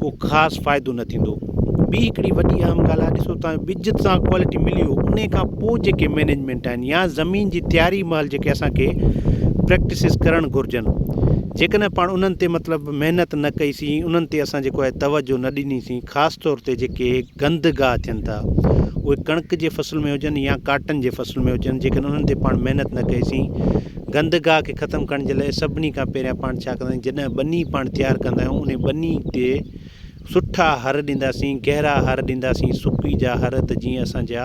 ڪو خاص فائدو نه ٿيندو ٻي هڪڙي وڏي اهم ڳالهه آهي ڏسو توهان ٻج سان ڪوالٽي ملي ويو ان کان پوء جيڪي مينيجمينٽ آهن يا زمين جي تياري مهل جيڪي اسانکي پريڪٽسز ڪرڻ گهرجن جيڪڏهن پاڻ انهن تي مطلب محنت نه ڪئي سين انهن تي اسان جيڪو آهي توجهه نه ڏني سين خاص طور تي جيڪي گند گاهه ٿين ٿا اهي ڪڻڪ جي فصل ۾ هجن يا ڪاٽن جي فصل ۾ هجن جيڪڏهن انهن تي پاڻ محنت نه ڪئي سين گند گاهه کي ختم ڪرڻ جي لاء سڀني کان پهريان پاڻ ڇا ڪندا آهيون جڏهن ٻني پاڻ تيار ڪندا آهيون انهي ٻني تي سٺا هر ڏينداسين گهرا هر ڏينداسين سڪي جا هر ته جيئن اسان جا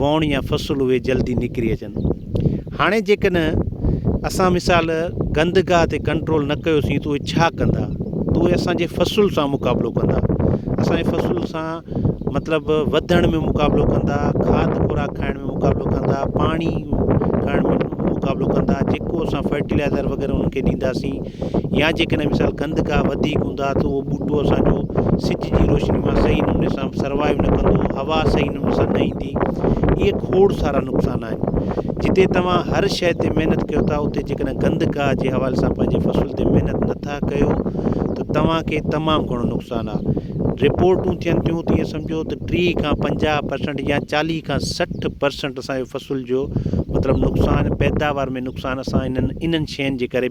ووڻ يا فصل اهي جلدي نڪري اچن. هاڻي جيڪڏهن اسان مثال گندگاهه تي ڪنٽرول نه ڪيوسين ته اهي ڇا ڪندا؟ ته اهي اسان جي فصل سان مقابلو ڪندا، اسان جي فصل سان مطلب وڌڻ ۾ مقابلو ڪندا، کاڌ خوراڪ کائڻ ۾ مقابلو ڪندا، پاڻي کائڻ ۾ مقابلو ڪندا، جيڪو اسان فرٽيلائزر وغيره انهن کي ڏينداسين يا جيڪڏهن مثال گند گاهه وڌيڪ هوندا ته اهو ٻوٽو اسان جو سج جي روشني مان صحيح نموني سان سروائيو نه ڪندو، هوا صحيح نموني سان نه ايندي. اهي کوڙ سارا نقصان آهن. جتي توهان هر شيء تي محنت ڪيو ٿا اتي جيڪڏهن گند گاهه جي حوالي سان پنهنجي فصل تي محنت نه ٿا ڪيو ته توهان کي تمام گهڻو نقصان آ. رپورٽون ٿين ٿيون ته ائين سمجهو ته ٽيهه کان پنجاهه پرسنٽ يا چاليهه کان سٺ پرسنٽ اسان جي فصل جو مطلب نقصان پيداوار ۾ نقصان اسان انهن انهن شين جي ڪري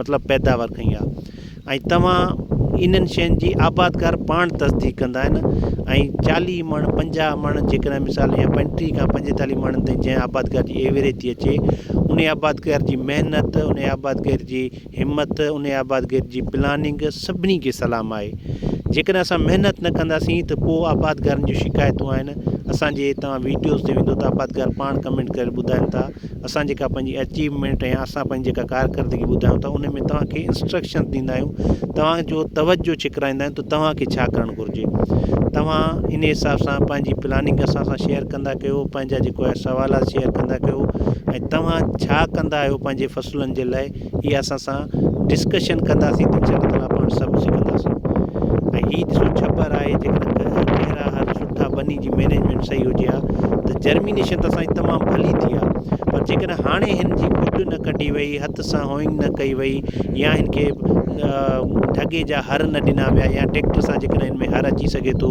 مطلب پيداوار کنئي آ ۽ توهان انهن شين جي آبادگار پاڻ تصديق ڪندا آهن ۽ چاليهه مڻ پنجاهه مڻ جيڪڏهن مثال جيئن پنجٽيهه کان پنجيتاليهه مڻن تائين جنهن آبادگار جي ايوريج ٿي اچي ان آبادگار جي محنت ان آبادگار جي همت ان آبادگار جي پلاننگ سڀني کي سلام آهي جيڪڏهن اسان محنت نه ڪنداسين ته پوء آبادگارن جون شڪايتون آهن اسانجي توهان ويڊيوز تي ويندو ته آبادگار پاڻ ڪمينٽ ڪري ٻڌائن ٿا اسان جيڪا پنهنجي اچيومينٽ يا اسان پنهنجي جيڪا ڪارڪردگي ٻڌايون ٿا ان ۾ توهان کي انسٽرڪشنس ڏيندا آهيون توهان جو توجهه ڇڪرائيندا آهيون ته توهان کي ڇا ڪرڻ گهرجي توهان ان حساب سان پنهنجي پلاننگ اسان سان شيئر ڪندا ڪيو پنهنجا جيڪو سوالات شيئر ڪندا ڪيو ۽ توهان ڇا ڪندا آهيو پنهنجي فصلن جي لاء هي اسان سان ڊسڪشن ڪنداسين ته انشاء الله تعالٰي پاڻ سڀ سکنداسون ۽ هي ڏسو ڇٻر آهي جيڪڏهن گهرا هر سٺا ٻني جي مينيجمينٽ صحيح هجي ها ته جرمينيشن ته اسان جي تمام ڀلي ٿي ها پر جيڪڏهن هاڻي هن جي مڊ نه ڪڍي وئي هٿ سان هوئنگ نه ڪئي وئي يا هن کي ڍڳي جا هر نه ڏنا ويا يا ٽيڪٽر سان جيڪڏهن هن ۾ هر اچي سگهي ٿو